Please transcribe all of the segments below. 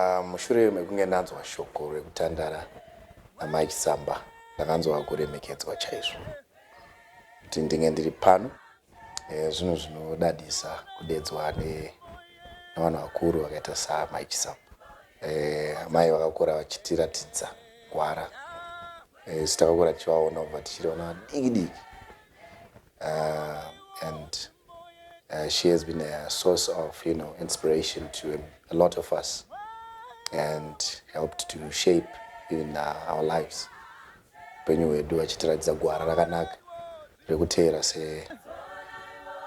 Ah, mushure mekunge ndanzwa shoko rekutandara namai Chisamba ndakanzwa kuremekedzwa chaizvo kuti ndinge ndiri pano eh, zvinhu zvinodadisa kudedzwa ne- nevanhu vakuru vakaita saamai Chisamba. Eh, Amai vakakura vachitiratidza gwara Eh, isu takakura tichivaona kubva tichiriona vadiki diki uh, and uh, she has been a source of you know inspiration to a lot of us and helped to shape even uh, our lives upenyu hwedu achitiratidza gwara rakanaka rekuteera se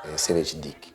eh, sevechidiki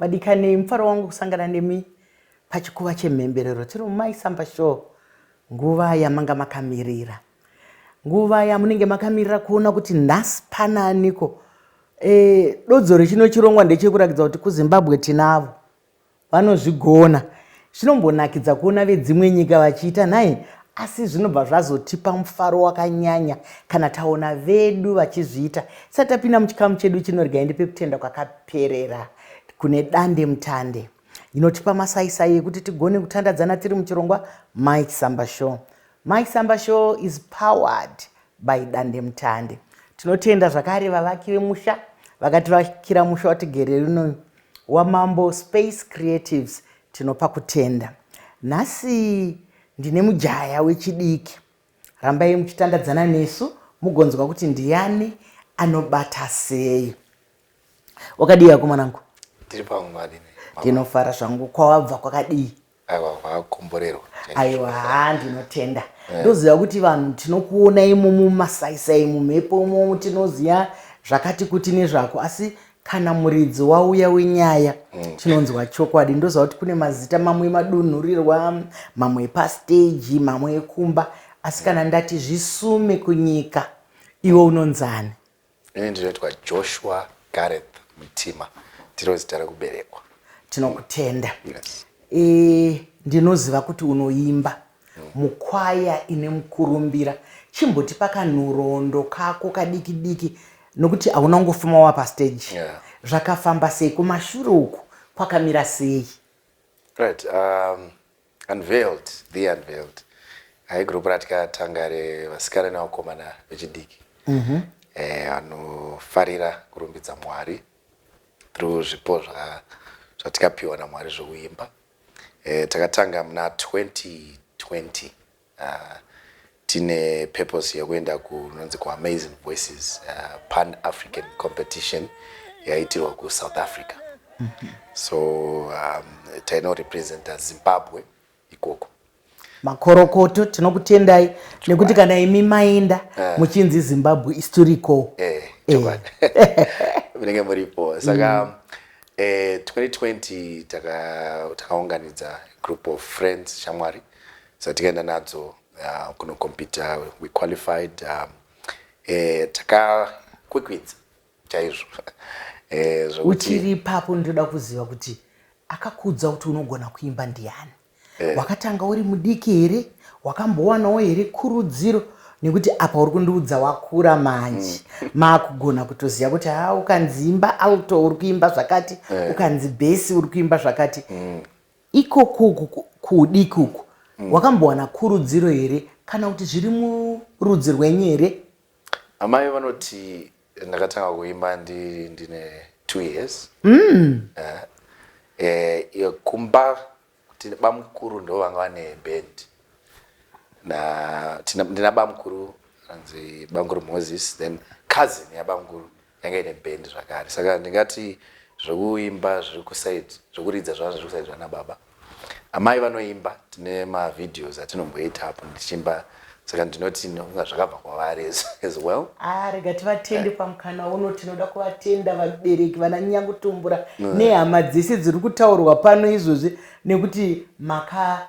Vadikanei, mufaro wangu kusangana nemi pachikuva chemhemberero tiri mumai samba show nguva yamanga makamirira nguva yamunenge makamirira kuona kuti nhasi pana aniko e, dodzo rechino chirongwa ndechekurakidza kuti kuzimbabwe tinavo vanozvigona Zvinombonakidza kuona vedzimwe nyika vachiita nhai, asi zvinobva zvazotipa mufaro wakanyanya kana taona vedu vachizviita. Tisati tapinda muchikamu chedu chino, regai ndipe kutenda kwakaperera kune dande mutande inotipa masaisai ekuti tigone kutandadzana tiri muchirongwa Mike Samba Show. Mike Samba Show is powered by dandemutande. Tinotenda zvakare vavaki vemusha vakativakira musha watigere uno waMambo Space Creatives tinopa kutenda. Nhasi ndine mujaya wechidiki. Rambai muchitandadzana nesu mugonzwa kuti ndiyani anobata sei. Wakadii akomanangu? Tiri pamwe madini. Ndinofara zvangu kwawabva kwakadii? aiwa kwakomborerwa aiwa haa ndinotenda eh. ndoziva kuti vanhu tinokuona imo mumasaisai mumhepo imomo tinoziva zvakati kuti nezvako asi kana muridzi wauya wenyaya mm. tinonzwa chokwadi ndoziva kuti kune mazita mamwe emadunhurirwa mamwe epasteji mamwe ekumba asi kana ndati zvisume kunyika iwe unonzani Ini ndinoitwa Joshua Gareth Mutima ndiro zita rekuberekwa. Tinokutenda. Yes. E, ndinoziva kuti unoimba mm. mukwaya ine mukurumbira. Chimbotipa kanhoroondo kako kadiki diki nokuti hauna kungofuma wa pastage. Yeah. Zvakafamba sei kumashure uku kwakamira sei? Right. Um, Unveiled, the unveiled. Hai group ratikatanga revasikana nevakomana vechidiki. Mhm. Eh anofarira kurumbidza Mwari through zvipo zva zvatikapiwa naMwari zvokuimba. Eh takatanga muna 2020. Ahh tine purpose yekuenda kunonzi ku Amazing Voices uh, Pan African Competition yaiitirwa ku South Africa so um, taino representa Zimbabwe ikoko. Makorokoto tinokutendai nekuti kana imi maenda eh. muchinzi Zimbabwe is to recall. Eh, eh. Munenge muripo saka mm. eh, 2020 takaunganidza taka group of friends shamwari Saka tikaenda nadzo uh, kuno computer we qualified um, eh, takakwikwidza chaizvo eh, uchiri ipapo ndinoda kuziva kuti akakuudza kuti unogona kuimba ndiani eh. wakatanga uri mudiki here wakambowanawo here kurudziro nekuti apa uri kundiudza wakura manje mm. maakugona kutoziva kuti ha ukanzi imba alto uri kuimba zvakati eh. ukanzi bhesi uri kuimba zvakati mm. Ikokuku kudi kuku mm. wakambowana kurudziro here kana kuti zviri murudzi rwenyu here? Amai vanoti ndakatanga kuimba ndi ndine 2 years. Mm. Eh, eh, eh, kumba tine bamukuru ndo vanga vane band. Na tina, ndina bamukuru anzi bamukuru Moses then cousin ya bamukuru. yanga ine band zvakare saka ndingati zvekuimba zviri kuside zvekuridza zvana zviri kuside zvana baba amai vanoimba tine mavideos atinomboita apo ndichiimba saka ndinoti nokunga zvakabva kwavari as well ah, rega tivatende eh. pamukana uno tinoda kuvatenda vabereki vana nyangutumbura mm. nehama dzese dziri kutaurwa pano izvozvi nekuti maka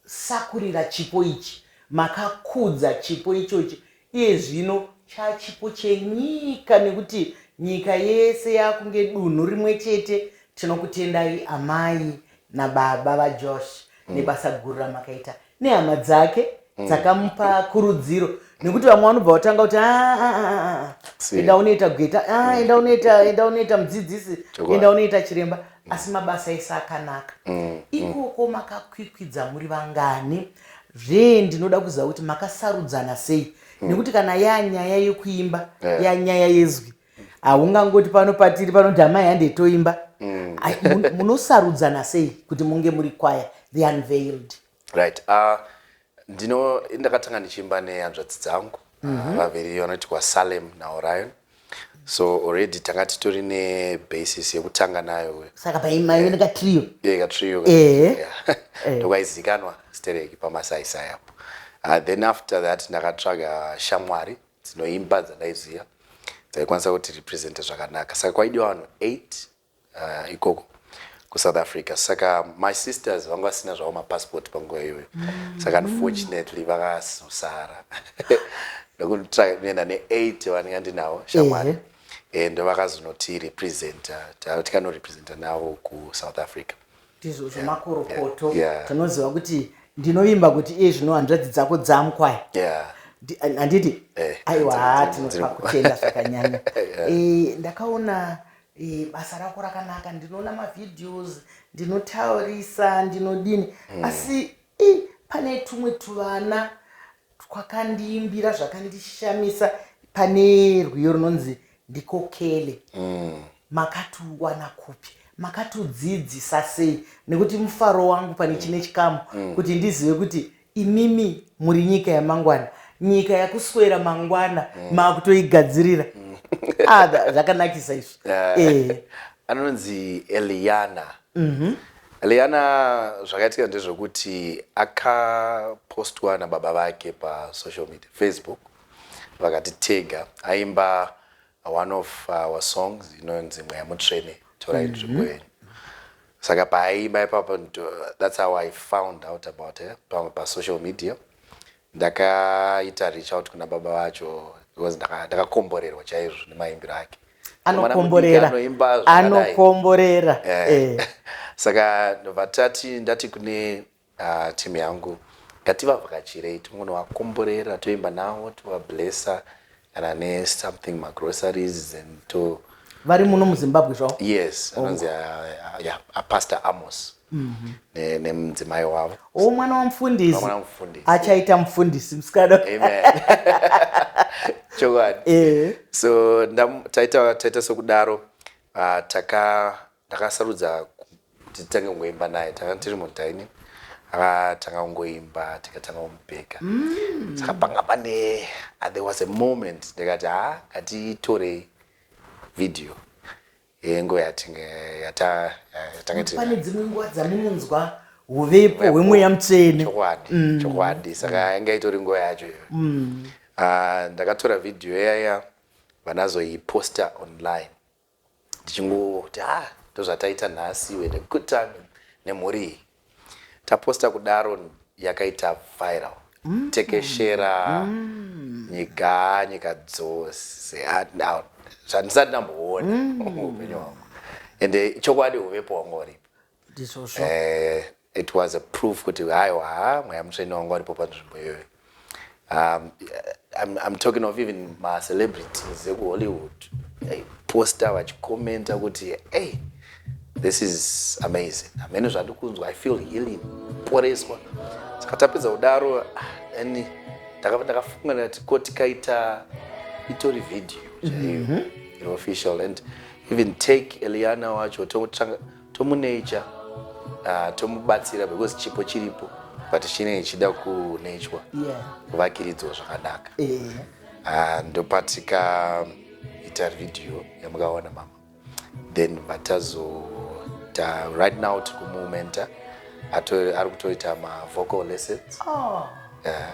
sakurira chipo ichi makakudza chipo ichochi iye zvino chachipo chenyika nekuti nyika yese yakunge dunhu rimwe chete tinokutendai amai nababa vajosh mm. nebasa guru ramakaita nehama dzake mm. dzakamupa kurudziro nekuti vamwe vanobva vatanga kuti ah, ah, ah, enda unoita gweta mm. enda unoita enda unoita mudzidzisi enda unoita chiremba mm. asi mabasa ese akanaka mm. ikoko makakwikwidza muri vangani zvee ndinoda kuziva kuti makasarudzana sei nekuti kana yanyaya yekuimba yanyaya yezwi haungangoti pano patiri panoti amai hande toimba munosarudzana sei kuti munge muri kwaya the unveiled Right. Uh, ndino ndakatanga ndichiimba nehanzvadzi dzangu mm -hmm. vaviri vanoti kwaSalem naOrion so already tanga titori nebasis yekutanga nayo uyo saka paimaive nekatrio yeah, katrio ndokaizikanwa stereki pamasaisai apo uh, then after that ndakatsvaga shamwari dzinoimba dzandaiziva dzaikwanisa kuti represente zvakanaka saka kwaidiwa vanhu 8 uh, ikoko kusouth africa saka my sisters vanga vasina zvavo mapassport panguva iyoyo mm. saka unfortunately vakazosara ndokuenda ne8 vandinga ndinavo shamwari mm -hmm. and vakazonotirepresenta tikanorepresenta navo kusouth africa ndizvo zvemakorokoto yeah, yeah. tinoziva kuti ndinovimba kuti iye zvino hanzvadzi dzako dzamukwai yeah handiti eh, aiwa tinokutenda zvakanyanya eh, ndakaona e, basa rako rakanaka ndinoona mavideos ndinotaurisa ndinodini mm. asi i, pane tumwe tuvana twakandiimbira zvakandishamisa pane rwiyo runonzi ndikokele mm. makatiwana kupi makatiudzidzisa sei nekuti mufaro wangu pane mm. chine chikamu mm. kuti ndizive kuti Imimi muri nyika yamangwana, nyika yakuswera mangwana mm. makutoigadzirira mm. ah, zvakanakisa izvi uh, eh. anonzi Eliana mm -hmm. Eliana zvakaitika ndezvekuti akapostwa nababa vake pasocial media Facebook vakati tega aimba one of our songs inonzi mweya mutsvene torai nzvimbo mm-hmm. yenyu saka paaimba ipapo that's how i found out about her pamwe pasocial media ndakaita reach out kuna baba vacho because ndakakomborerwa chaizvo nemaimbiro ake anokomborera anokomborera eh. eh. saka vatati ndati kune Ahh team yangu ngativavhakachirei timbongovakomborera toimba navo tova blesser kana ne something ma groceries then to Vari muno muZimbabwe zvavo? yes anonzi ah, ah, yeah, ah, pastor amos ne- nemudzimai wavo Oh, mwana wamufundisi. Mwana wamufundisi. Achaita mufundisi musikana. amen chokwadi Eh. so ndam- taita taita sokudaro ah, taka Ndakasarudza kuti titange kungoimba naye tanga tiri mudining akatanga kungoimba tikatanga kumubheka mm. saka panga pane ah, there was a moment ndikati ha ah, ngatitorei video yengo yatinge yata yatange tiri pane dzimwe nguva dzamunonzwa uvepo hwemweya mutsvene chokwadi mm. chokwadi saka yanga itori nguva yacho iyoyo mm. ah, ndakatora video yaya vanazoiposta online tichingoti ha ah, ndozvataita nhasi we had a good time nemhuri iyi taposta kudaro yakaita viral mm. tekeshera mm. nyika nyika dzose ah, zvandisati ndamboona mm. upenyu hwangu ende chokwadi uvepo hwanga uripo ndizvozvo eh, it was a proof kuti haiwa mweya mutsvene wangu aripo panzvimbo iyoyo um, I'm, I'm talking of even macelebrities ekuhollywood posta vachikomenta kuti hey, this is amazing amene zvandikunzwa i feel healing poreswa saka tapedza kudaro and ah, ndakafunga ndati ko tikaita itori video chaiyo mm -hmm. official and even take eliana wacho tomuneicha uh, tomubatsira because chipo chiripo but chinenge chichida kunechwa kuvakiridzwa yeah. zvakanaka yeah. uh, ndopatika ita video yamukaona mama then vatazo ta, right now tikumumenta ari kutoita mavocal lessons oh. yeah.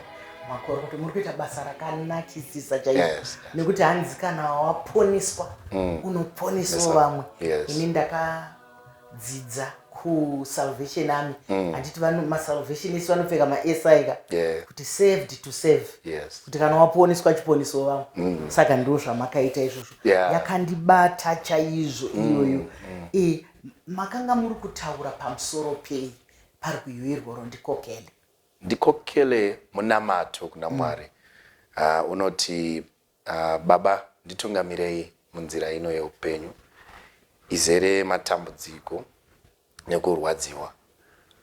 makoro kuti muri kuita basa rakanakisisa chaizvo yes, yes. nekuti hanzi kana waponiswa mm. unoponiswa vamwe yes. ini ndakadzidza kusalvation army mm. handiti mm. masalvation isi vanopfeka masaika yeah. kuti saved to save yes. kuti kana waponiswa chiponiswa vamwe mm. saka ndiro zvamakaita izvozvo yeah. yakandibata chaizvo mm, iyoyo mm. mm. e, makanga muri kutaura pamusoro pei pari kuyoirwa rondikokele Ndikokele munamato kuna Mwari uh, unoti uh, Baba nditungamirei munzira ino yeupenyu izere matambudziko nekurwadziwa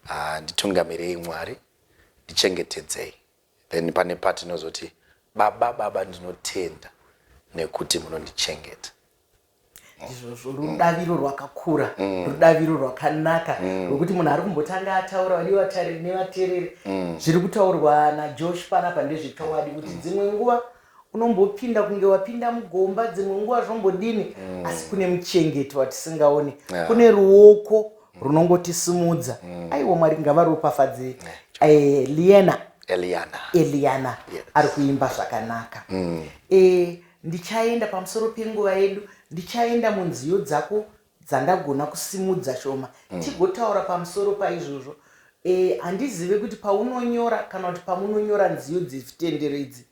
uh, nditungamirei Mwari ndichengetedzei then pane patinozoti baba baba ndinotenda nekuti munondichengeta izvozvo rudaviro rwakakura mm. rudaviro rwakanaka mm. rwekuti munhu ari kumbotanga ataura vadi vatariri nevatereri mm. zviri kutaurwa najosh panapa ndezvechokwadi kuti dzimwe nguva unombopinda kunge wapinda mugomba dzimwe nguva zvombodini asi kune muchengeti watisingaoni kune ruoko runongotisimudza aiwa mwari ngavaropafadze eh, liana eliana, eliana. Yes. ari kuimba zvakanaka mm. e, Ndichaenda pamusoro penguva yedu, ndichaenda munziyo dzako dzandagona kusimudza shoma, tigotaura pamusoro paizvozvo. Eh, handizive kuti paunonyora kana kuti pamunonyora nziyo dzezvitendero idzi,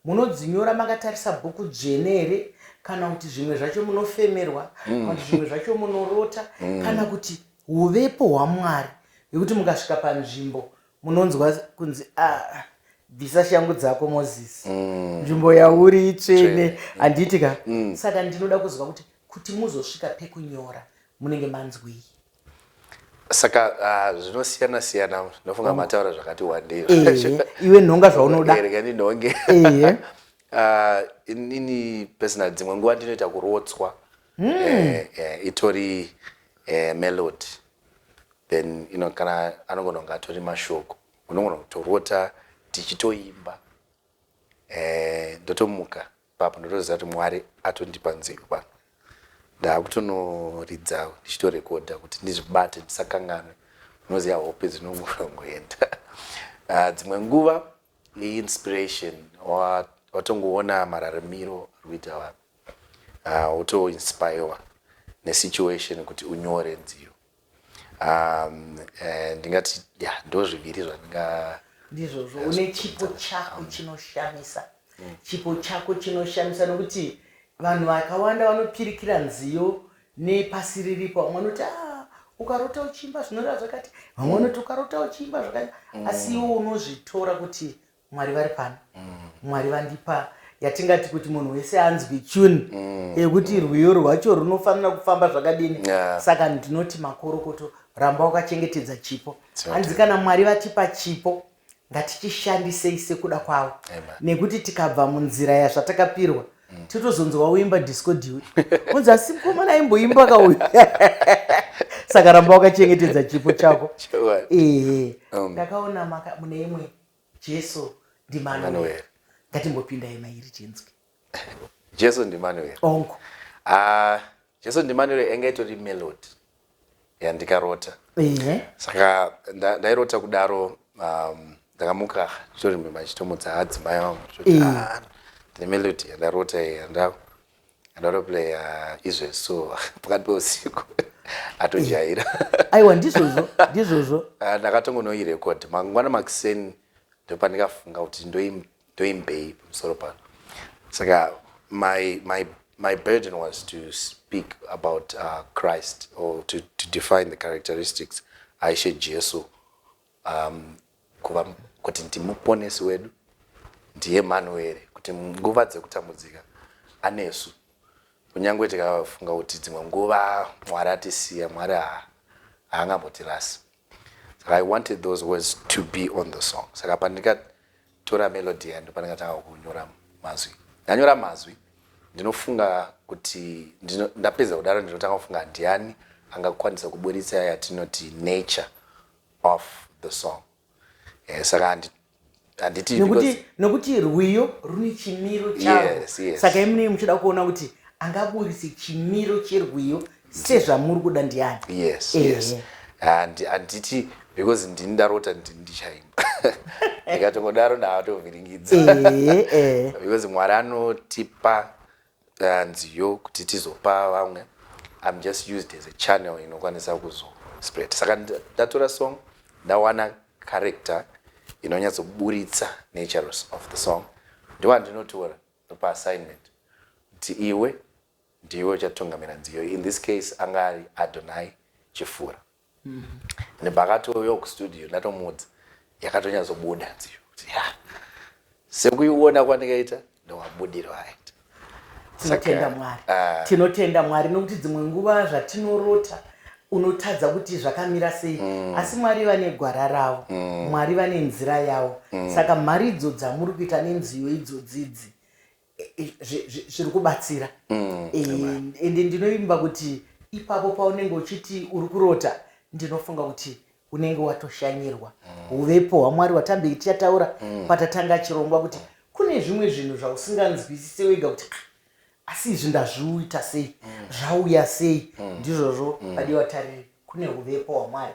munodzinyora makatarisa bhuku dzvene here, kana kuti zvimwe zvacho munofemerwa, kana kuti zvimwe zvacho munorota, kana kuti huvepo hwaMwari, hwekuti mukasvika panzvimbo munonzwa kunzi ah, bvisa shangu dzako moses mm. nzvimbo mm. yauri itsvene handiti ka mm. saka ndinoda kuziva kuti kuti muzosvika pekunyora munenge manzwei saka ah, zvinosiyana uh, siyana ndinofunga oh. mataura zvakati wandei eh, iwe nhonga zvaunoda ndinhonge eh. ah, inini personal dzimwe nguva ndinoita kurotswa hmm. eh, eh, itori eh, melody then you know kana anogona kunge atori mashoko unogona kutorota tichitoimba eh, ndotomuka eh, papo ndotoziva kuti mwari atondipa nzeve pano ndaakutonoridza ndichitorekodha kuti ndizvibate ndisakanganwe unoziva hope dzinongoenda ah, dzimwe nguva iinspiration watongoona mararamiro ari kuita vanhu Haa woto inspirewa ne situation kuti unyore nziyo umm ndingati yaa ndozviviri zvandinga. Ndizvozvo une chipo chako chinoshamisa chipo chako chinoshamisa nokuti vanhu vakawanda vanopirikira nziyo nepasi riripo vamwe vanoti haa ukarota uchiimba zvinoreva zvakati vamwe vanoti ukarota uchiimba zvakati asi iwe unozvitora kuti mwari vari pano mwari vandipa yatingati kuti munhu wese anzwi tune mm. yekuti rwiyo rwacho runofanira kufamba zvakadini saka ndinoti makorokoto ramba wakachengetedza chipo hanzi kana mwari vatipa chipo ngatichishandisei sekuda kwavo nekuti tikabva munzira yazvatakapirwa mm. titozonzwa uimba disco diwe unzi asi mukomana aimboimba kauyu saka ramba wakachengetedza chipo chako ehe um. ndakaona mune imwe Jesu ndiManueri. Ngatimbopindai mairi tinzwe. Jesu ndiManueri. Ongo. Ah, uh, Jesu ndiManueri enga itori melody yandikarota. Ehe. Saka ndairota nda kudaro um, ndakamuka nditori mimba chitomudza adzimai wangu. Ehe. Ah, ndimelody yandarota yandaku. anotoplaya izve so pakati peusiku atojaira aiwa ndizvozvo ndizvozvo ah, ndakatongonoirecord mangwana makuseni ndopandikafunga kuti ndoimbei pamusoro pano saka my, my, my burden was to speak about uh, christ or to, to define the characteristics aishe jesu Um, kuva kuti ndimuponesi wedu ndiEmanueri, kuti nguva dzekutambudzika anesu. Kunyange tikafunga kuti dzimwe nguva Mwari atisiya, Mwari haangambotirasi. Saka I wanted those words to be on the song. Saka pandikatora melody yayo ndopandikatanga kunyora mazwi. Ndanyora mazwi ndinofunga kuti ndapedza kudaro ndinotanga kufunga ndiani angakwanisa kuburitsa yatinoti nature of the song eh, saka handi- handiti nekuti because- nekuti rwiyo rune chimiro charo Yes, yes. saka imunei muchida kuona kuti angaburitse chimiro cherwiyo sezvamuri kuda ndiani yes Ehe. yes and handiti because ndini ndarota ndi- ndichaimba ndikatongodaro ndaatovhiringidza Eh, eh. because mwari anotipa uh, nziyo kuti tizopa vamwe im just used as a channel inokwanisa kuzospread saka ndatora song ndawana character inonyatsoburitsa natures of the song ndowandinotora ndopa assignment kuti iwe ndiwe uchatungamira nziyo in this case anga ari adonai chifura nebhakatoyo kustudio ndatomuudza yakatonyazobuda nziyo kuti ya sekuiona kwandikaita ndowabudiro aita tinotenda mwari ah. tinotenda mwari nokuti dzimwe nguva zvatinorota unotadza kuti zvakamira sei mm. asi mwari vane gwara ravo mm. mwari vane nzira yavo mm. saka mharidzo dzamuri kuita nenziyo idzodzidzi zviri kubatsira mm, eh, ende ndinoimba kuti ipapo paunenge uchiti uri kurota ndinofunga kuti unenge watoshanyirwa mm. uvepo hwamwari watambe tichataura mm. patatanga chirongwa kuti kune zvimwe zvinhu zvausinganzwisise wega kuti ah, asi izvi ndazviuita sei zvauya sei ndizvozvo padiwa tariri kune huvepo hwaMwari.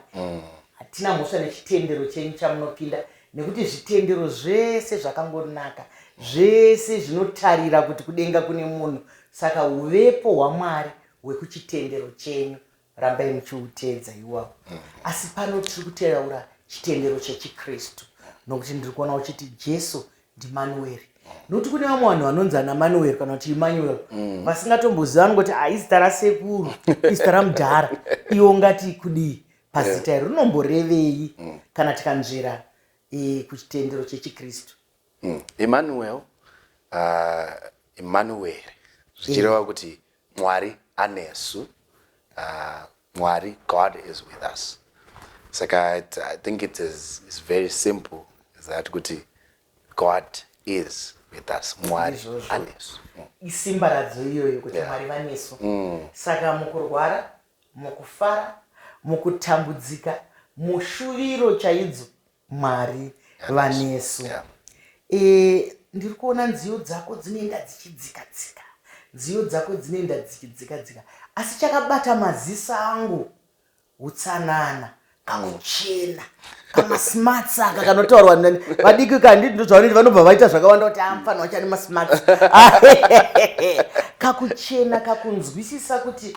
Hatina mhosva nechitendero chenyu chamunopinda nekuti zvitendero zvese zvakangonaka. Zvese zvinotarira kuti kudenga kune munhu saka huvepo hwaMwari hwekuchitendero chenyu rambai muchihuteedza iwawo. Asi pano tiri kuteraura chitendero chechiKristu nokuti ndiri kuona uchiti Jesu ndimanueri nokuti kune vamwe vanhu vanonzi ana manueri kana kuti emmanuel mm. vasingatomboziva ngoti ah, izita rasekuru izita ramudhara iwo ngati kudii pazita iri rinomborevei mm. kana tikanzvera e, kuchitendero chechikristu mm. emmanuel ah, emmanueri zvichireva kuti Mwari anesu. Uh, Mwari, God is with us. Saka it, I think it is it's very simple is that kuti God is with us. Mwari anesu. Mm. Isimba radzo iyoyo kuti yeah. Mwari vanesu. Mm. Saka mukurwara, mukufara, mukutambudzika, mushuviro chaidzo mwari vanesu yeah. e, ndiri kuona nziyo dzako dzinoenda dzichidzika dzika nziyo dzako dzinoenda dzichidzika dzika asi chakabata maziso angu utsanana kakuchena kamasmarts aka kanotaurwa nani vadiki kanditi ndozvavaniti vanobva vaita zvakawanda kuti amfanwa ah, chani masmarts kakuchena kakunzwisisa kuti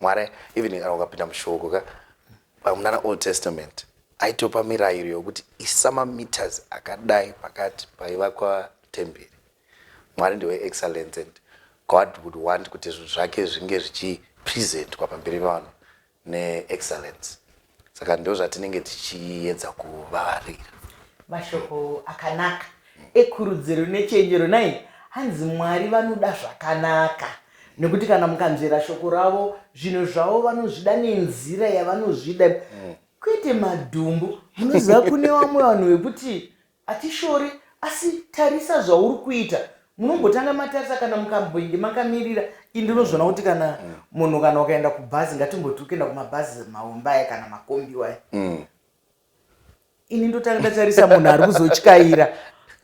Mwari even kana ukapinda mushoko ka pamunana Old Testament aitopa mirayiro yokuti isa mameters akadai pakati paivakwa temberi. Mwari ndiwe excellence and God would want kuti zvinhu zvake zvinge zvichipresentwa pamberi pavanhu neexcellence. saka ndozvatinenge tichiedza kuvavarira mashoko akanaka ekurudziro nechenjero nai hanzi mwari vanoda zvakanaka nekuti kana mukanzvera shoko ravo zvinhu zvavo vanozvida nenzira yavanozvida kwete madhumbu munoziva kune vamwe vanhu vekuti Hatishori asi tarisa zvauri kuita munombotanga matarisa kana mukambenge makamirira i ndinozviona kuti kana mm. munhu kana ukaenda kubhazi ngatimboti ukuenda kumabhazi maombaya kana makombi waya mm. ini ndotanga ndatarisa munhu ari kuzotyaira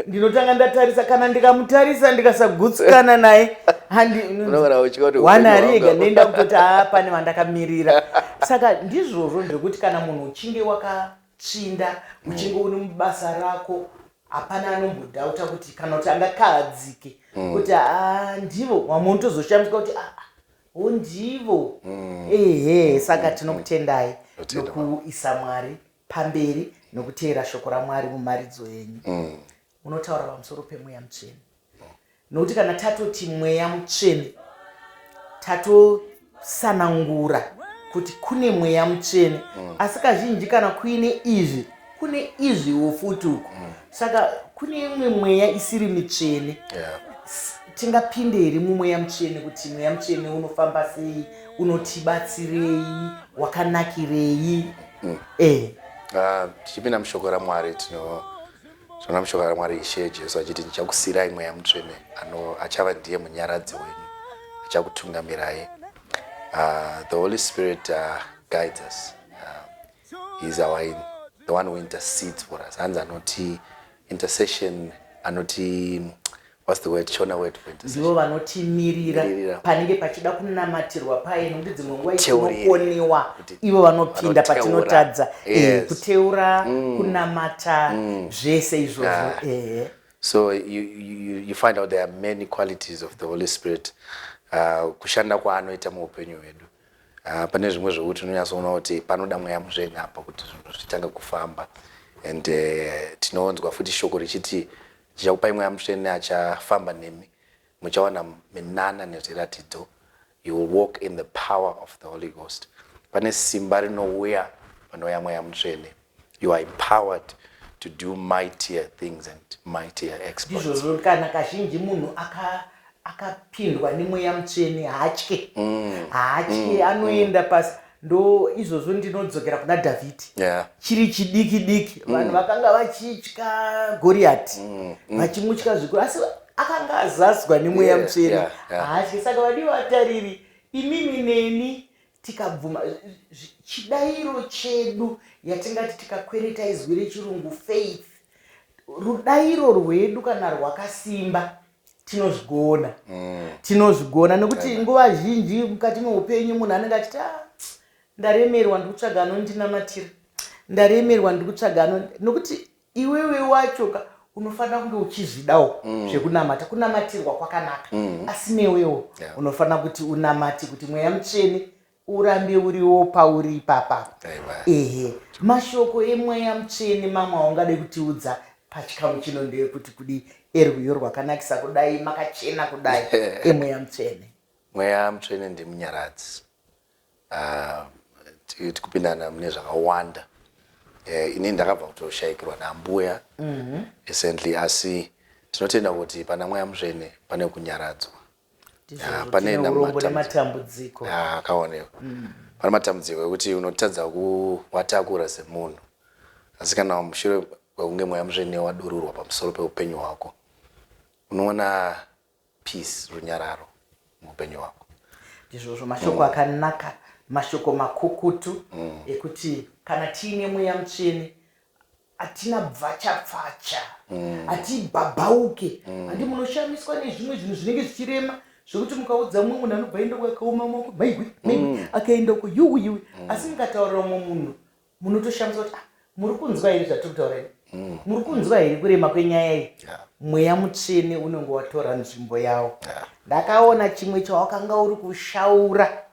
ndinotanga ndatarisa kana ndikamutarisa ndikasagutsikana naye handiwana ari ega ndoenda kutoti aa ah, pane vandakamirira saka ndizvozvo zvekuti kana munhu uchinge waka Tsvinda uchinge uri mubasa rako hapana anombodhauta kuti kana kuti angakahadzike mm. kuti haa ndivo vamwe unotozoshamiswa kuti aa ah, ho oh, ndivo mm. ehe saka mm. tinokutendai nokuisa mwari pamberi nokuteera shoko ramwari mumharidzo yenyu unotaura pamusoro pemweya mutsvene nokuti kana tatoti mweya mutsvene tatosanangura kuti kune mweya mutsvene mm. asi kazhinji kana kuine izvi kune izviwo futi uku mm. saka kune imwe mweya isiri mitsvene yeah. tingapinde here mumweya mutsvene kuti mweya mutsvene unofamba sei unotibatsirei wakanakirei mm. eh. Ah, tichipinda uh, mushoko ramwari tino Zvona mushoko raMwari Ishe Jesu achiti, Ndichakusiirai Mweya Mutsvene, ano achava ndiye munyaradzi wenyu, achakutungamirai. Uh, the Holy Spirit uh, guides us. Uh, he's our, in, the one who intercedes for us. Hanzi anoti intercession, anoti What's the word? Shona word for intercession. Ndivo vanotimirira Mirira. panenge pachida kunamatirwa paye nokuti dzimwe nguva Teurira. itinokoniwa Kuti- ivo vanopinda vanoteura. patinotadza eh, Yes. kuteura kunamata zvese izvozvo Ah. eh. So you, you, you find out there are many qualities of the Holy Spirit uh, kushanda kwaanoita muupenyu hwedu. Uh, pane zvimwe zvekuti unonyatsoona kuti panoda mweya mutsvene apa kuti zvinhu zvitange kufamba and uh, tinoonzwa futi shoko richiti Ndichakupai Mweya Mutsvene achafamba nemi, muchawana minana nezviratidzo, you will walk in the power of the Holy Ghost. Pane simba rinouya panouya Mweya Mutsvene. You are empowered to do mightier things and mightier exploits. Ndizvozvo kana kazhinji munhu aka akapindwa nemweya mutsvene haatye mm. haatye mm. anoenda mm. pasi ndo izvozvo ndinodzokera kuna dhavhidhi yeah. chiri chidiki diki mm. vanhu vakanga vachitya goriyati mm. mm. vachimutya mm. zvikuru asi akanga azazwa nemweya yeah, mutsvene yeah, yeah. haatye saka vadii vatariri imimi neni tikabvuma chidairo chedu yatingati tikakwereta izwi rechirungu faith rudairo rwedu kana rwakasimba tinozvigona mm. tinozvigona nekuti yeah. nguva zhinji mukati meupenyu munhu anenge achiti ah, ndaremerwa ndikutsvaga anondinamatira ndaremerwa ndikutsvaga ano nokuti iwewe wacho ka unofanira kunge uchizvidawo mm. zvekunamata kunamatirwa kwakanaka mm. asi newewo yeah. unofanira kuti unamati kuti mweya mutsvene urambe uriwo pauri ipapa ehe mashoko emweya mutsvene mamwe aungade kutiudza pachikamu chino ndeyekuti kudi erwiyo rwakanakisa kudai makachena kudai emweya mutsvene mweya mutsvene ndimunyaradzi ah, tikupindana mune zvakawanda eh, ini ndakabva kutoshaikirwa nambuya mhm. recently asi tinotenda kuti pana mweya mutsvene pane kunyaradzwa Ah, pane Tine na urombo matam- nematambudziko Ah, akaonekwa pane matambudziko ekuti unotadza kuwatakura semunhu asi kana mushure kwekunge mweya mutsvene wadururwa pamusoro peupenyu hwako unoona peace runyararo muupenyu hwako ndizvozvo mashoko akanaka mashoko makukutu ekuti kana tiine mweya mutsvene hatina bvachapfacha mm. hatibhabhauke mm. handi munoshamiswa nezvimwe zvinhu zvinenge zvichirema zvekuti mukaudza mumwe munhu anobva enda kwakaoma moko maigwi maigwi mm. akaenda uko yuwi yuwi asi mukataurira umwe munhu munotoshamisa kuti ah, muri kunzwa here zvatiri kutaura ini muri kunzwa here kurema kwenyaya iyi mweya mutsvene unenge watora nzvimbo yawo ndakaona chimwe chawakanga uri kushaura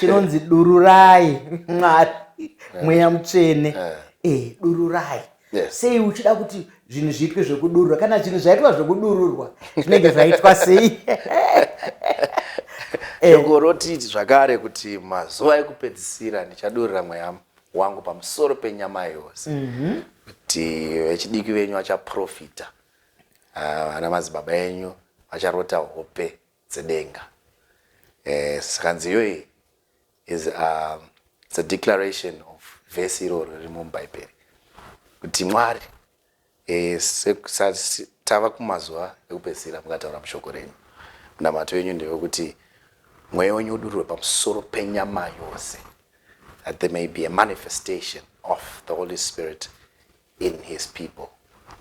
chinonzi dururai mwari eh. mweya mutsvene eh. eh, dururai sei uchida kuti zvinhu zviitwe zvekudurura kana zvinhu zvaitwa zvekudururwa zvinenge zvaitwa sei shoko roti zvakare kuti mazuva ekupedzisira ndichadurira mweya wangu pamusoro penyama yose mhm. kuti vechidiki venyu vachaprofita ah, vana madzibaba enyu vacharota hope dzedenga eh, zvikanzi iyoyi is uh, it's a declaration of vhesi iroro riri mubhaibheri kuti mwari eh, tava kumazuva ekupedzisira mukataura mushoko renyu munamato yenyu ndewekuti mweya wenyu udururwe pamusoro penyama yose that there may be a manifestation of the holy spirit in his people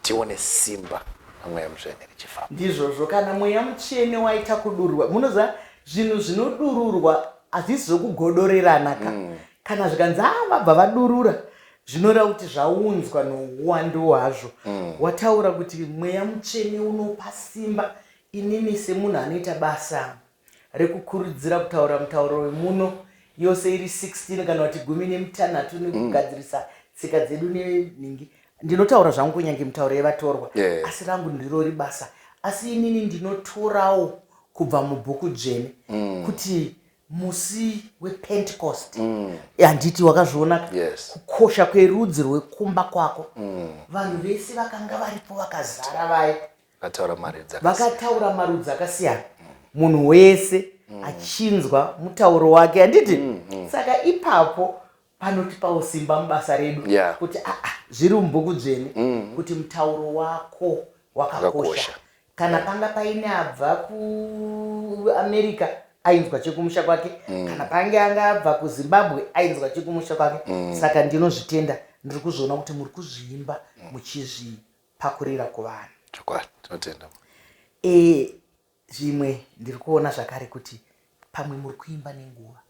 tione simba ramweya mutsvene richifamba ndizvozvo kana mweya mutsvene waita kudururwa munoziva zvinhu zvinodururwa hazvisi zvokugodorerana ka mm. kana zvikanzi a ah, vabva vadurura zvinoreva kuti zvaunzwa nouwandu hwazvo mm. wataura kuti mweya mutsvene unopa simba inini semunhu anoita basa mm. rekukurudzira kutaura mutauro wemuno yose iri 16 kana kuti gumi nemitanhatu nekugadzirisa mm. tsika dzedu nenhingi ndinotaura zvangu kunyange mitauro yevatorwa yeah. asi rangu ndiro ribasa asi inini ndinotorawo kubva mubhuku dzvene mm. kuti musi wepentecost mm. handiti mm. wakazvionaka yes. kukosha kwerudzi rwekumba kwako mm. vanhu vese vakanga varipo vakazara vaye Vakataura marudzi akasiyana. vakataura marudzi akasiyana munhu wese achinzwa mutauro wake handiti saka ipapo panotipawo simba mubasa redu Yeah. kuti "Ah, ah, zviri mubhuku dzvene kuti mutauro wako wakakosha Wakakosha. kana panga paine abva kuamerica ainzwa chekumusha kwake kana pange anga abva kuzimbabwe ainzwa chekumusha kwake saka ndinozvitenda ndiri kuzviona kuti muri kuzviimba muchizvi pakurira kuvanhu. Chokwadi, tinotenda. E, zvimwe ndiri kuona zvakare kuti pamwe muri kuimba nenguva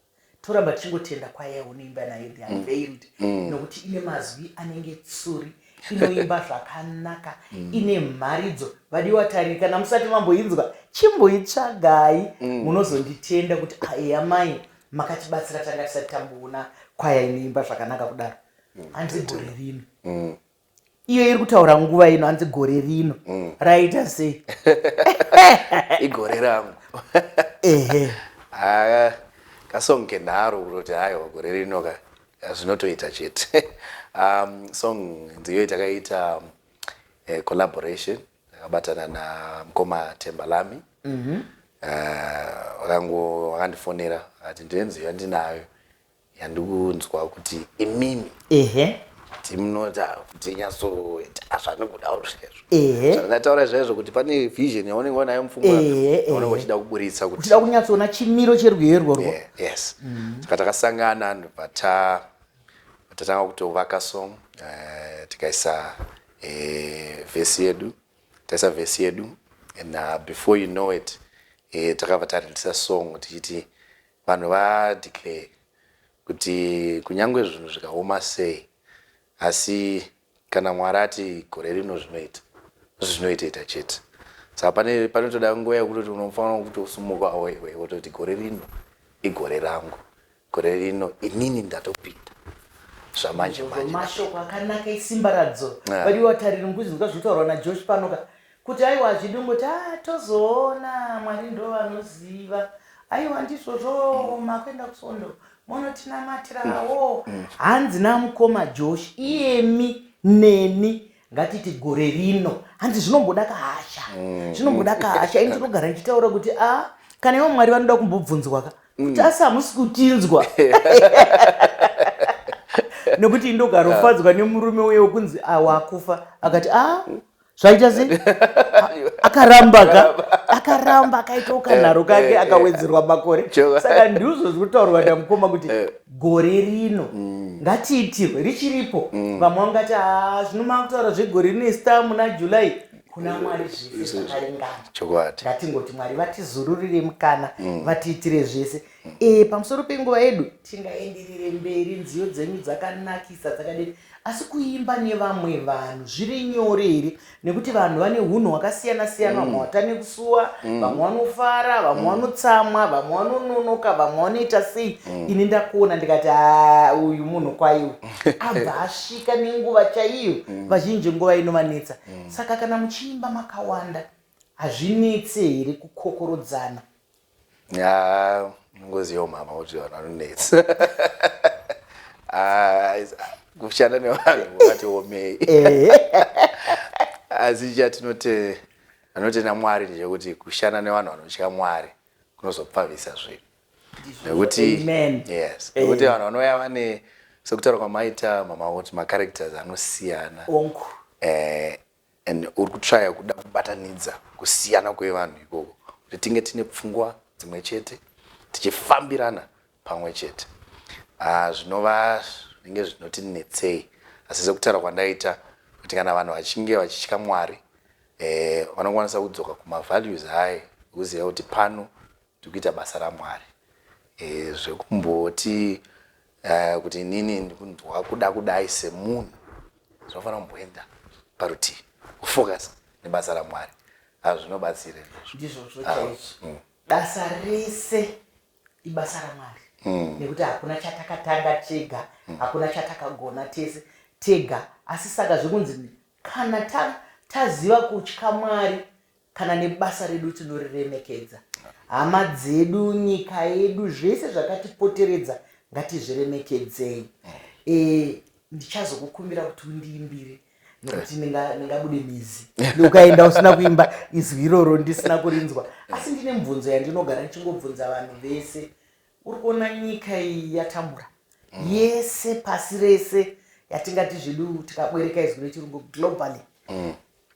toramba tichingotenda kwaya unoimba nayo the unveiled mm. mm. nokuti ine mazwi anenge tsuri inoimba zvakanaka mm. ine mharidzo vadiwa tariri kana musati mamboinzwa chimboitsvagai mm. munozonditenda mm. kuti aeya ah, mai makatibatsira tanga tisati tamboona kwaya inoimba zvakanaka kudaro hanzi gore rino iyo iri kutaura nguva ino hanzi gore rino mm. raita sei igore rangu ehe ah, kasong kendaro kutoti haiwa gore rino ka zvinotoita chete um, song ndiyo itakaita um, eh, collaboration akabatana na mkoma tembalami mhm. eh, wakandifonera akati ndine nziyo yandinayo yandikunzwa kuti imimi ehe kuti munota kuti nyatsoita zvandikudawo zvezvo ehe zvandataura zvezvo kuti pane vision yaunenge wanayo mupfungwa Ehe, ehe. yaunenge uchida kuburitsa kuti tida kunyatsoona chimiro cherwiyo irworwo Yeah, yes saka takasangana ndobva ta- tatanga kutovaka song eh, tikaisa eh, vhesi yedu taisa vhesi yedu and uh, before you know it eh, takabva tarindisa song tichiti Vanhu va declare kuti kunyangwe zvinhu zvikaoma sei asi kana Mwari ati gore rino zvinoita zvinoitaita chete saka pane panotoda nguva yekutoti unofanira kutosumuka wewe wototi gore rino igore rangu gore rino inini ndatopinda zvamanje manje mashoko akanaka isimba radzo vadiwa tariri nguzi ndoka zvinotaurwa najosh panoka Kuti aiwa hazvidi ungoti ah tozoona Mwari ndovanoziva. Aiwa ndizvo zvooma kuenda kusondo monotinamatirawo. Mm, mm. Hanzi namukoma Josh iyemi neni ngatiti gore rino hanzi zvinomboda kahasha mm, zvinomboda kahasha ini tinogara ndichitaura kuti a ah, kana ivo mwari vanoda kumbobvunzwa ka kuti asi hamusi kutinzwa nekuti indogarofadzwa nemurume uye wekunzi awakufa ah, akati a ah, zvaita sei akaramba ka akaramba akaita ukanharo eh, kake eh, eh. akawedzerwa makore saka ndizvo zviri kutaurwa namukoma kuti gore rino mm. ngatiitirwe richiripo mm. vamwe vangati ah, zvino makutaura zvegore rino ista muna july kuna mwari zvese zvakaringana chokwadi ngatingoti mwari vatizururire mukana mm. vatiitire zvese e, pamusoro penguva yedu tingaenderere mberi nziyo dzenyu dzakanakisa dzakadini asi kuimba nevamwe vanhu zviri nyore here nekuti vanhu vane hunhu hwakasiyana siyana vamwe mm. vatane kusuwa mm. vamwe vanofara vamwe mm. vanotsamwa vamwe vanononoka vamwe vanoita sei ini ndakuona ndikati ah, uyu munhu kwaiwe abva asvika nenguva chaiyo vazhinji nguva inovanetsa saka kana muchiimba makawanda hazvinetse here kukokorodzana ya ngozi yeumama kuti vanhu vanonetsa ah, kushanda nevanhu vati omei eh. asi chatinote anotenda mwari ndechekuti kushanda nevanhu vanotya mwari kunozopfavisa zvinhu nekuti yes nekuti vanhu vanouya vane sekutaura kwamaita mama kuti macharacters anosiyana eh, and uri kutryer kuda kubatanidza kusiyana kwevanhu ikoko kuti tinge tine pfungwa dzimwe chete tichifambirana pamwe chete ah, zvinova zvinenge zvinoti netsei asi sekutaura kwandaita kuti kana vanhu vachinge vachitya mwari eh, vanokwanisa kudzoka kumavalues aye kuziva kuti pano Tikuita basa raMwari. Eh zvekumboti uh, kuti inini ndikundwa kuda kudai semunhu zvinofanira kumboenda parutivi kufocus nebasa raMwari hazvinobatsire ndizvo ndizvozvo Ah, chaizvo mm. basa rese ibasa ramwari Mm. nekuti hakuna chatakatanga tega hakuna chatakagona tese tega asi saka zvekunzi kana ta- taziva kutya mwari kana nebasa redu tinoriremekedza hama dzedu nyika yedu zvese zvakatipoteredza ngatizviremekedzei e, ndichazokukumbira kuti undiimbire nokuti ndingabude mizi ndoukaenda usina kuimba izwi iroro ndisina kurinzwa asi ndine mubvunzo yandinogara ndichingobvunza vanhu vese uri kuona nyika iyi yatambura mm. yese pasi rese yatingati zvedu tikabwereka izwi rechirungu globally mm.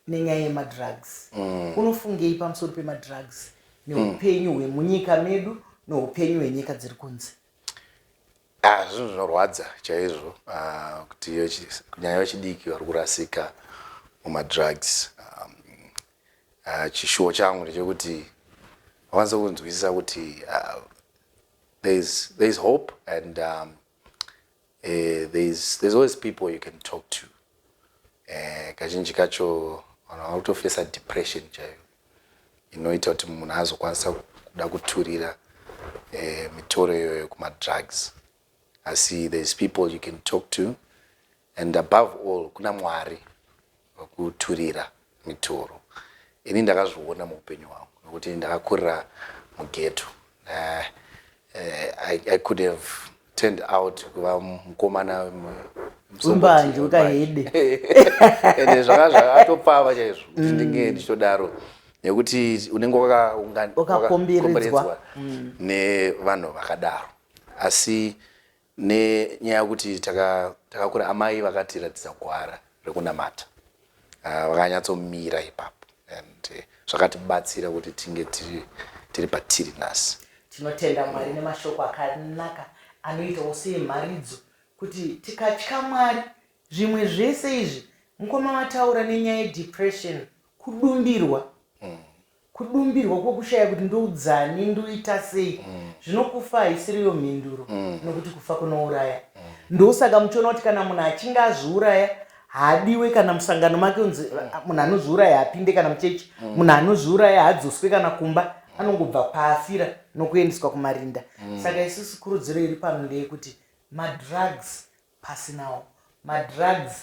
nenyaya yemadrugs mm. unofungei pamusoro pemadrugs neupenyu mm. hwemunyika medu neupenyu hwenyika dziri kunze ah, zvinhu zvinorwadza chaizvo ah, kuti kunyanya vechidiki vari kurasika mumadrugs um, ah, chishuwo changu ndechekuti vakwanisa kunzwisisa kuti there is hope and um, Eh, there's, there's always people you can talk to eh, kazhinji kacho vanhu vanotofesa depression chaiyo inoita kuti munhu azokwanisa kuda kuturira eh, mitoro iyoyo kumadrugs asi there's people you can talk to and above all kuna mwari wekuturira mitoro ini ndakazviona muupenyu hwangu nokuti ndakakurira mugeto uh, uh, I, I could have turned out kuva mukomana mbanju kahede ende zvanga zvatopfava chaizvo kuti mm. ndinge ndichitodaro nekuti unenge wakaunganidzwa mm. nevanhu vakadaro asi Nenyaya yekuti takakura amai vakatiratidza gwara rekunamata ah, vakanyatsomira ipapo and eh, zvakatibatsira kuti tinge tiri patiri nhasi. Tinotenda Mwari nemashoko akanaka anoitawo seemharidzo kuti tikatya Mwari zvimwe zvese izvi. Mukoma mataura nenyaya yedepression, kudumbirwa. Hmm. Kudumbirwa kwokushaya kuti ndoudzani, ndoita sei, mm. zvino kufa haisiriyo mhinduro, mm. nokuti kufa kunouraya. Mm. Ndosaka muchiona kuti kana munhu achinge azviuraya haadiwe kana musangano make unzi ah, munhu anozviuraya apinde kana muchechi mm. munhu anozviuraya hadzoswe kana kumba mm. anongobva paafira nokuendeswa kumarinda mm. saka isusu kurudziro iri pano ndeyekuti madrugs pasinawo madrugs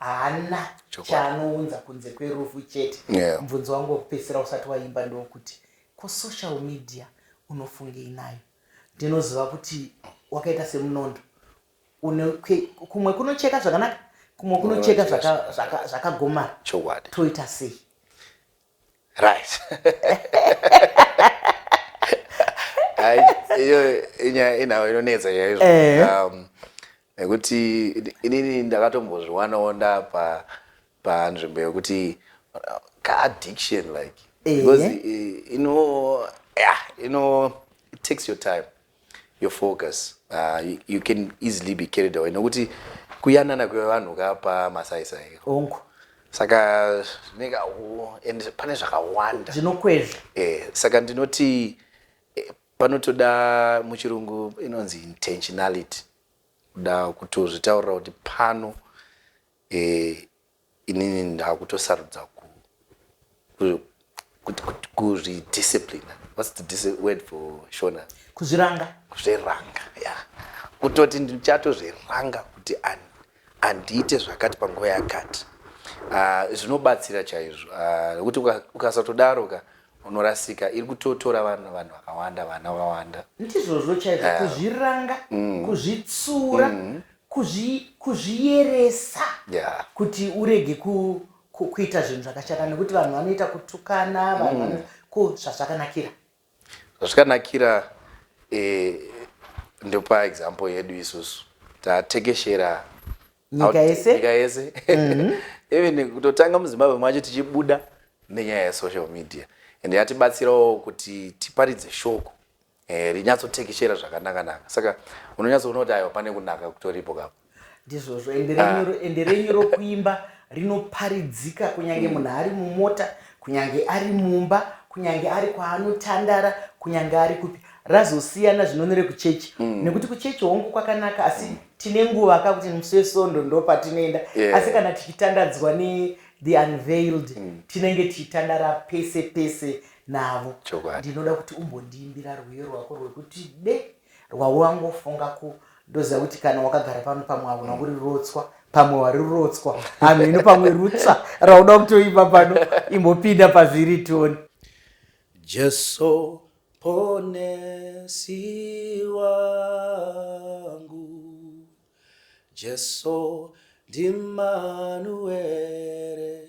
haana Chokwadi. chaanounza kunze kwerufu chete Yeah. mubvunzo wangu wekupedzisira usati waimba ndewokuti ko social media unofungei nayo ndinoziva kuti wakaita semunondo une kwe- kumwe kunocheka zvakanaka kumwe kunocheka zvaka- zvaka- zvakagomara Chokwadi. toita sei right iyo inyaya inawo inonetsa yaizvo eh. um, nekuti inini ndakatombozviwanawo ndapa panzvimbo yekuti uh, kaaddiction like eh. because ino yeah ino it takes your time your focus uh, you, you can easily be carried away nokuti kuyanana kwevanhu kapa masaisai ongu saka zvinenge and pane zvakawanda zvinokwezva eh, saka ndinoti eh, panotoda muchirungu inonzi intentionality kuda kutozvitaurira kuti pano eh, inini ndakutosarudza ku kuzvidisciplina whats the word for shona kuzviranga kuzviranga ya yeah. kutoti ndichatozviranga kuti handiite zvakati panguva yakati ah, zvinobatsira uh, chaizvo ah, nekuti uh, ukasatodaro ka unorasika iri kutotora vanhu vanhu vakawanda vana vawanda ndizvozvo chaizvo uh, kuzviranga mm, kuzvitsura mm, Kuzvi, kuzviyeresa yeah. kuti urege ku, ku, kuita zvinhu zvakashata nekuti vanhu vanoita kutukana vanhu mm. ko zvazvakanakira zvazvakanakira eh, ndopa example yedu isusu tatekeshera nyika yese nyika yese mm-hmm. even kutotanga muzimbabwe macho tichibuda nenyaya yesocial media and yatibatsirawo kuti tiparidze shoko eh, rinyatsotekeshera zvakanaka naka saka unonyatsoona kuti aiwa pane kunaka kutoripo kapo ndizvozvo ende renyu ah. rokuimba rinoparidzika kunyange mm. munhu ari mumota kunyange ari mumba kunyange ari kwaanotandara kunyange ari kupi razosiyana zvinonere kuchechi mm. nekuti kuchechi hongu kwakanaka asi mm. tine nguva ka kuti musi wesondo ndo patinoenda asi kana tichitandadzwa ne the unveiled mm. tinenge tichitandara pese pese navo ndinoda kuti umbondiimbira rwiyo rwako rwekuti de rwavo wangofunga ku ndoziva kuti kana wakagara pano pamwe hauna kuri rotswa pamwe wari rotswa hanhu ino pamwe rutsva rauda kutoimba pano imbopinda pazviri toni jesu ponesi wangu jesu ndimanuere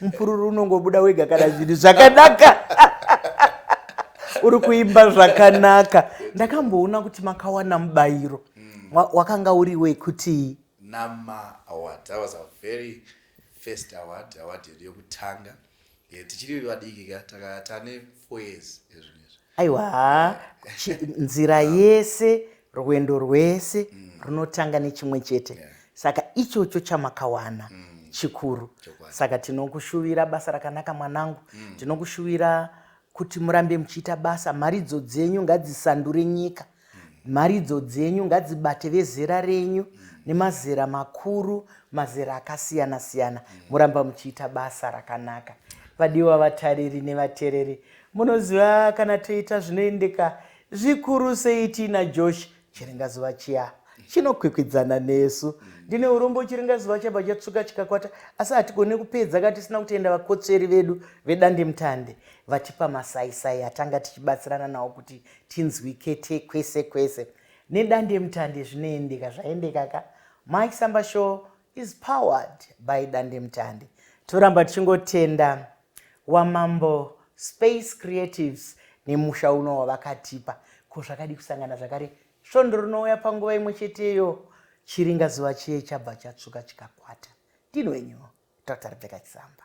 mupururu unongobuda wega kana zvinhu zvakanaka uri kuimba zvakanaka ndakamboona kuti makawana mubayiro mm. wakanga uri wekuti nama award that was a very first award award yedu yokutanga eh, tichiri vadiki ka takatane aiwa haa nzira yese rwendo rwese mm. runotanga nechimwe chete yeah. saka ichocho chamakawana mm. chikuru saka tinokushuvira basa rakanaka mwanangu mm. tinokushuvira kuti murambe muchiita basa mharidzo dzenyu ngadzisandure nyika Mharidzo dzenyu ngadzibate vezera renyu nemazera makuru, mazera akasiyana siyana. Muramba muchiita basa rakanaka. Vadiwa vatariri nevatereri, munoziva kana toita zvinoendeka zvikuru sei tiina Josh Chiringazuva chiya chinokwikwidzana nesu. Ndine urombo Chiringazuva chabva chatsvuka chikakwata asi hatigone kupedza ka tisina kutenda vakotsveri vedu vedandemutande vatipa masaisai atanga tichibatsirana nawo kuti tinzwi kete kwese kwese nedandemutande zvinoendeka zvaendeka ka mike samba show is powered by dandemutande toramba tichingotenda wamambo space creatives nemusha uno wavakatipa ko zvakadi kusangana zvakare svondo rinouya panguva imwe cheteyo chiringa zuva chiye chabva chatsvuka chikakwata ndinwenyu dr rebeka chisamba